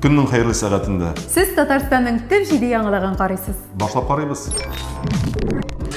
Көннең хәерле сәгатендә. Сез Татарстанның төп җиде яңалыгын карыйсыз. Башлап карыйбыз.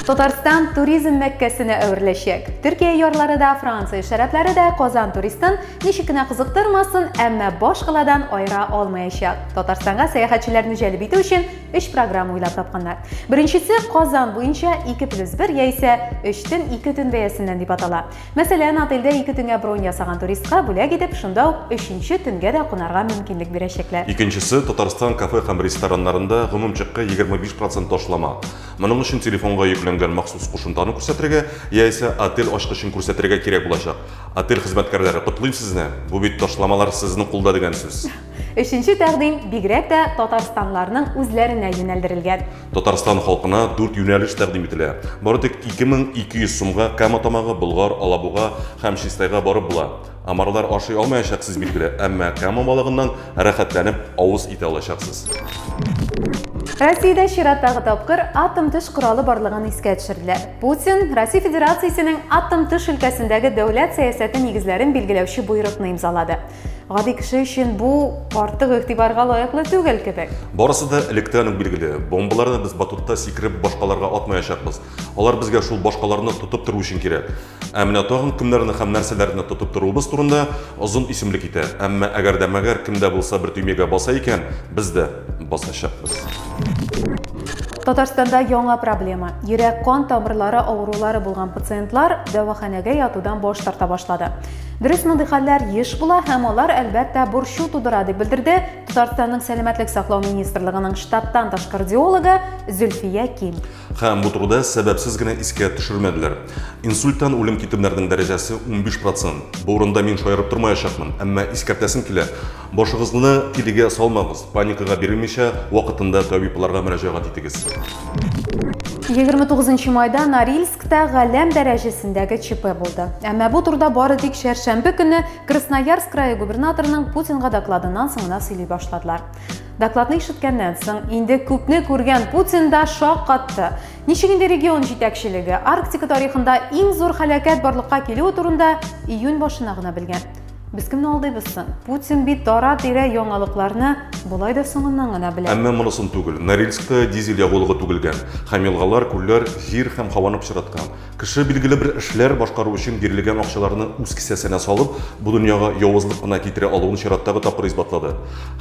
Татарстан туризм мәккәсенә әвереләчәк. Төркия ярлары да, Франция шәрәпләре дә Казан туристын ничек кенә кызыктырмасын, әмма баш каладан айыра алмаячак. Татарстанга сәяхәтчеләрне җәлеп итү өчен өч программа уйлап тапканнар. Беренчесе Казан буенча 2 плюс 1 яисә 3 төн 2 төн бәясеннән дип атала. Мәсәлән, отельдә ике төнгә бронь ясаган туристка бүләк итеп, шунда ук өченче төнгә дә кунарга мөмкинлек бирәчәкләр. Икенчесе, Татарстан кафе һәм рестораннарында гомум чекка 25 процент ташлама. Моның өчен телефонга йөкләнгән махсус кушымтаны күрсәтергә, яисә отель ачкычын күрсәтергә кирәк булачак. Отель хезмәткәрләре, котлыйм сезне! Бу бит ташламалар сезнең кулда дигән сүз. Өченче тәкъдим бигрәк тә татарстанларның үзләренә юнәлдерелгән. Татарстан халкына дүрт юнәлеш тәкъдим ителә. Бары тик 2200 сумга Кама тамагы, Болгар, Алабуга һәм Чистайга барып була. Амарлар ашый алмаячак сез билгеле, әмма Кама балыгыннан рәхәтләнеп авыз итә алачаксыз. Россиядә чираттагы тапкыр атом төш коралы барлыгын искә төшерделәр. Путин Россия Федерациясенең атом төш өлкәсендәге дәүләт сәясәте нигезләрен билгеләүче боерыкны имзалады. Гади кеше өчен бу артык игътибарга лаеклы түгел кебек. Барысы да электән үк билгеле. Бомбаларны без батутта сикереп башкаларга атмаячакбыз. Алар безгә шул башкаларны тотып тору өчен кирәк. Ә менә тагын кемнәрне һәм нәрсәләрне тотып торуыбыз турында озын исемлек китә. Әмма әгәр дә мәгәр кем дә булса бер төймәгә баса икән, без дә басачакбыз. Татарстанда яңа проблема. Йөрәк-кан тамырлары авырулары булган пациентлар дәваханәгә ятудан баш тарта башлады. Дөрес, мондый хәлләр еш була һәм алар, әлбәттә, борчу тудыра, дип белдерде Татарстанның сәламәтлек саклау министрлыгының штаттан тыш кардиологы Зөлфия Ким. Һәм бу турыда сәбәпсез генә искә төшермәделәр. Инсульттан үлем китерүләрнең дәрәҗәсе 15%. Бу урында мин шаярып тормаячакмын, әмма искәртәсем килә. Башыгызны тилегә салмагыз, паникага бирелмичә, вакытында табибларга мөрәҗәгать итегез. 29 майда Норильскта галәм дәрәҗәсендәге ЧП булды. Әмма бу турда бары тик чәршәмбе көне Красноярск крае губернаторының Путинга докладыннан соң гына сөйли башладылар. Докладны ишеткәннән соң инде күпне күргән Путин да шок катты. Ничек инде регион җитәкчелеге Арктика тарихында иң зур халәкәт барлыкка килүе турында июнь башына гына белгән. Без кемне алдыйбыз соң? Путин бит дара-тирә яңалыкларны болай да соңыннан гына белә. Әмма монысын түгел. Норильскта дизель ягулыгы түгелгән. Һәм елгалар, күлләр, җир һәм һаваны пычраткан. Кеше билгеле бер эшләр башкару өчен бирелгән акчаларны үз кесәсенә салып, бу дөньяга явызлык кына китерә алуын чираттагы тапкыр исбатлады.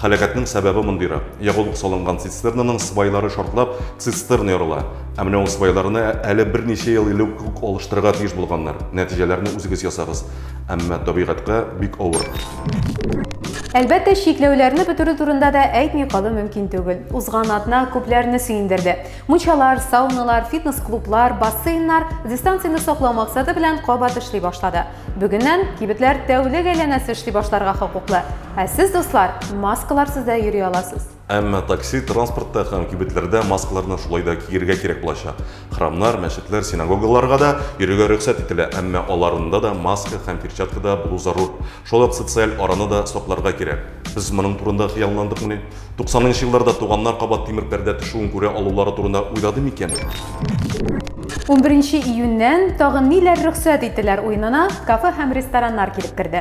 Һәлакәтнең сәбәбе мондыйрак. Ягулык салынган цистернаның свайлары шартлап, цистерна ярыла. Ә менә ул свайларны әле берничә ел элек үк алыштырырга тиеш булганнар. Нәтиҗәләрне үзегез ясагыз. Әмма табигатькә бик авыр. Әлбәттә, чикләүләрне бетерү турында да әйтми калу мөмкин түгел. Узган атна күпләрне сөендерде. Мунчалар, сауналар, фитнес-клублар, бассейннар дистанцияне саклау максаты белән кабат эшли башлады. Бүгеннән кибетләр тәүлек әйләнәсе эшли башларга хокуклы. Ә сез, дуслар, маскаларсыз да йөри аласыз. Әмма такси, транспортта һәм кибетләрдә маскаларны шулай да киерергә кирәк булачак. Храмнар, мәчетләр, синагогаларга да йөрергә рөхсәт ителә, әмма аларында да маска һәм перчаткада булу зарур. Шулай ук социаль араны да сакларга кирәк. Без моның турында хыялландыкмыни? Туксанынчы елларда туганнар кабат тимер пәрдә төшүен күрә алулары турында уйлады микән? Унберенче июньнән тагын ниләр рөхсәт ителәр уенына кафе һәм рестораннар килеп керде.